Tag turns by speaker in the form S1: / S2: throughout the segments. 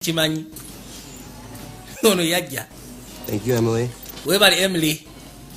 S1: kimanyi ono yajja thank you emily
S2: webali emily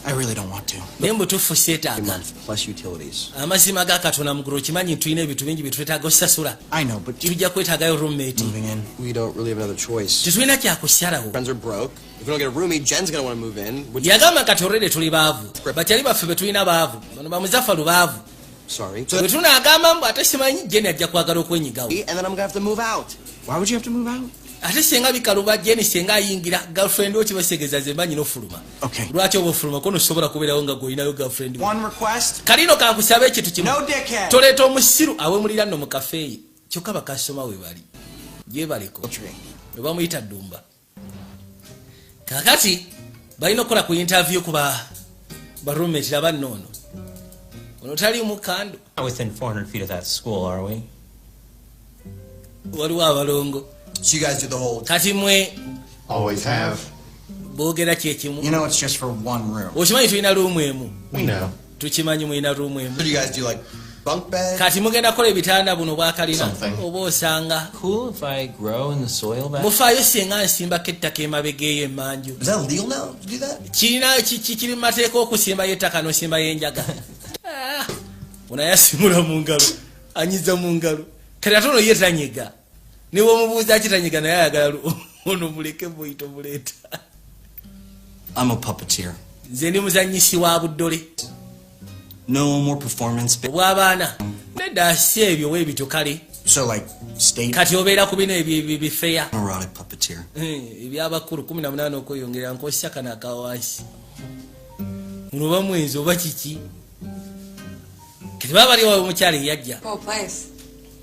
S1: I really don't
S3: want to. Naye mbutufu setaaga.
S1: Plus utilities.
S2: Amazima ga Katonda
S1: muguru kimanyi tulina ebintu bingi bitwetaaga osasula. I know but tujja
S3: kwetaagayo roommate.
S1: Moving in. We don't
S3: really have another
S2: choice. Tetulina kya kusyalawo.
S1: Friends are broke.
S2: If we don't get a roomie, Jen's going to want to move in. Yagamba kati already
S1: tuli baavu. But yali baffe betulina baavu. Bano bamuzafa lubaavu. Sorry. So
S2: tunaagamba
S1: mbu ate simanyi Jenny ajja kwagala okwenyigawo. And then I'm gonna have to move
S2: out. Why would you have to move
S3: out? ate senga bikaluba
S1: Jenny senga ayingira girlfriend wo kibasegeza ze manyi no fuluma. Okay. Lwaki obo
S3: fuluma kono
S1: sobora kuberawo nga goyina yo girlfriend. One request. Kalino
S3: kankusabe ekitu
S1: kimu. No dickhead. Toleto
S3: musiru
S1: awe mulira no mu cafe. Kyokaba kasoma we bali. Ye baliko. Oba muyita dumba. kakati balina okukola ku interview kuba barumeti laba noono ono tali mukando
S4: waliwo
S1: abalongo
S2: kati mwe
S5: boogera
S1: kyekimu
S3: okimanyi tulina luumu emu
S5: tukimanyi mulina room
S1: emu
S2: kati mugenda kola ebitanda
S1: buno bwakalina oba osanga
S4: mufaayo singa nsimbako
S1: ettaka emabega eyo emanju
S2: kirina kiri
S1: mumateeka okusimbayo ettaka nosimbayo enjaga ah, onayasimula mungalo anyiza mungalo kati ate ono ye tanyiga niwomubuuza kitanyiga naye ayagala ono muleke buyito buleeta
S3: nze ndi muzanyisi
S1: wa buddole
S3: obwabaana
S1: nedda asi ebyo webityo kale
S3: kati obeera ku bino
S1: ebyobifeya eh,
S3: ebyabakulu
S1: 18 okweyongera nkosisa kano akawansi munoba mwenzi oba kiki kati baba bali wawe omukyalo eyajja oh,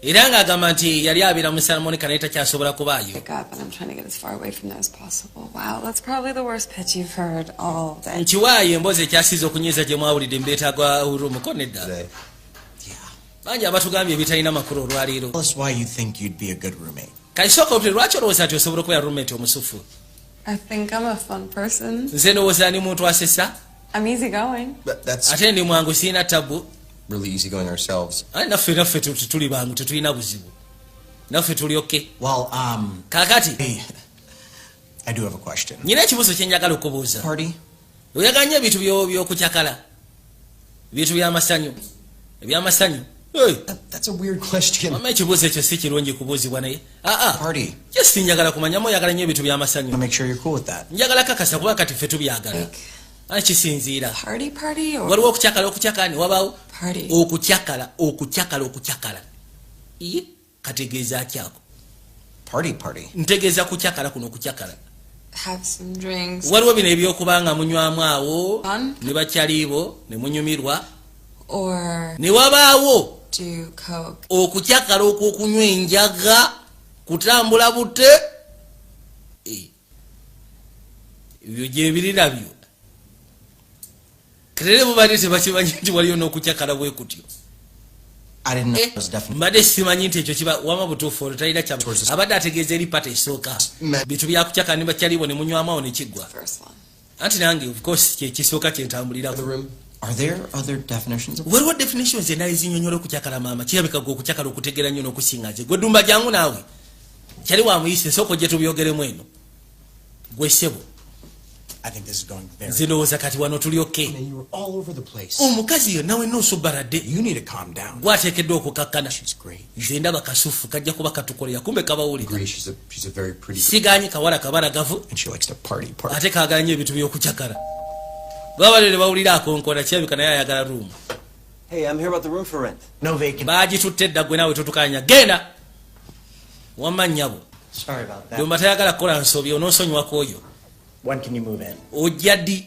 S6: era ng'agamba
S1: nti yali abeera mu santa monica naye takyasobola kubaayo
S6: nkiwaayo emboozi ekyasiiza
S1: okunyiiza gye mwawulidde mbeetagwa urumuko nedda bangi abatugambye ebitalina makulu olwaleero
S3: kaisooka obuti lwaki
S1: olowooza nti osobola okubeera rumenti omusufu
S6: nze ndowooza ni muntu
S1: asesa I'm easy going.
S6: But that's ate ndi
S2: mwangu sirina
S1: tabu really easy going
S2: ourselves. ate naffe naffe tu- tu-
S1: tuli bangu tetulina buzibu naffe tuli oke Well, um,
S3: kakati
S1: hey,
S3: I do have a question. nyina ekibuuzo kyenjagala
S1: okubuuza Party?
S3: oyagala nyo ebintu
S1: byo- byokucakala ebintu byamasanyu ebyamasanyu
S3: mama ekibuuzo ekyo si
S1: kirungi kubuuzibwa naye ah, ah.
S3: just njagala
S1: kumanyamu oyagala nyo ebintu byamasanyu
S3: njagala kakasa kuba kati
S1: ffe tubyagala ah,
S6: kisinziira waliwo okucakala okucakani
S1: wabawo okucakala
S6: okucakala okucakala
S1: kategeeza ki ako
S3: ntegeeza kucakala
S1: kuno kucakala
S6: waliwo bino ebyokuba
S1: nga munywamu awo ne bakyaliibo ne munyumirwa
S6: ne wabaawo okucakala
S1: okwokunywa enjaga kutambula bute eh. ebyo gyebirira byo kerere bubadde tebakimanyi nti waliyo n'okucakala bwe kutyo
S3: eh, mbadde simanyi nti ekyo
S1: kiba wama butuufu olwo talina kya abadde ategeeza eri pata esooka bintu byakucakala ne bakyaliwo ne munywamawo ne kiggwa
S6: anti nange of
S1: course kyekisooka kyentambulirako Are there
S3: other definitions? What what definitions and is
S1: in your kuchakara mama? Chirabika go kuchakara kutegera nyono kusinga je. Godumba jangu nawe. Chari wa muise soko jetu biogere mwenu. Gwesebo. I think
S3: this is going very Zino was a kati wano tuli
S1: okay. And you were all over the
S3: place. Umukazi oh, yo nawe no
S1: subarade. You need to calm down.
S3: Gwate kedo kukakana.
S1: She's great. nze
S3: ndaba kasufu
S1: kajja kuba katukolera kumbe kabawulisiganye
S2: kawala kabalagavu
S3: ate kagala nyo ebintu
S1: byokucakala babalere bawulira akonkona kirabika naye ayagala ruumu
S2: bagitutte
S3: edda gwe naawe
S1: totukanya genda wamma nyabo domba tayagala
S3: kukola
S1: nsobi
S3: ononsonyiwako
S1: oyo
S3: ojja ddi